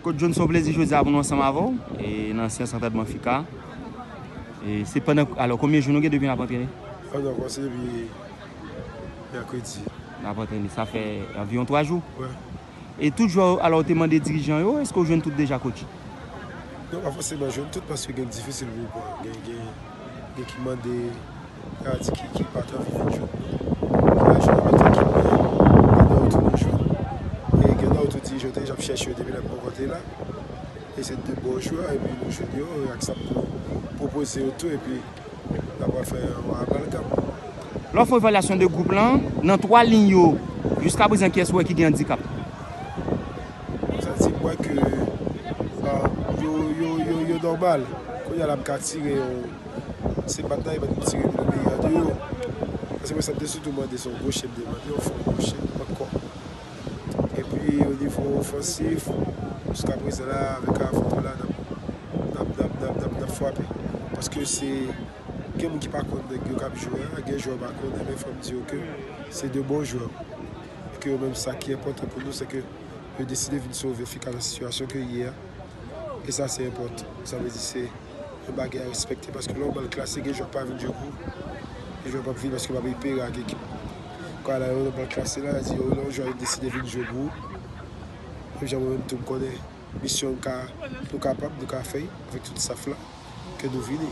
Kot John son plezi jodi a pou nou ansanm avè w e nan seyans antèdman Fika e se pandan alò konbyen jou nou gen depi nap antrene? Fèt nou kòmanse depi mèkredi. Nap antrene sa fè anviwon 3 jou? Wi. E tout jwè yo alò ou te mande dirijan yo eske ou jwenn tout deja kotch? Nou pa fòseman jwenn tout paske gen difisil pou w pran gen gen. Gen ki mande Radi Kiki pa t anvi vin jwenn nou, ki lajan yo mete ki mwayen yo, gen lè yo tou nou jwenn e gen lè yo tou di yo deja ap chèche yo depi lè m poko te la e se de bon jwè epi nou jwenn yo e ak sa m tou pwopoze yo tou epi n apral fè yon amalgam. Lè w fè evalyasyon de gwoup lan, nan 3 liy yo jiska prezan kiyès ou wè ki gen andikap? M santi m wè ke yo nòmal. Kounya la m ka tire yo, se bat la yo mèt pou tire m nan men yo tou yo. Paske mwen sa m te sitou mande se yon goche m te mande, yon fon goche ankò. Epi onivo ofansif, jiskaprezan la avèk Avram la n ap fwape. Paske se gen moun ki pa konn nèg yo k ap jwe a, gen jwè yo pa konnen men fò m di yo ke se de bon jwè. e ke yo menm sa ki enpòtan pou nou se ke yo deside vin sove fi ka nan sitiyasyon ke li ye a, e sa se enpòtan, sa vle di se yon bagay a respekte paske lè ou ban l klas se gen jwè ki pa vin jwe pou ou, gen jwè ki pap vini paske yo pa vle pere ak ekip nan, kou ala yo nan ban l klas se la yo di yo lè yon jwè deside vin jwe pou ou, menm jan mwen menm tou m konnen misyon m ka nou kapab nou ka fè avèk tout staff la ke nou vini.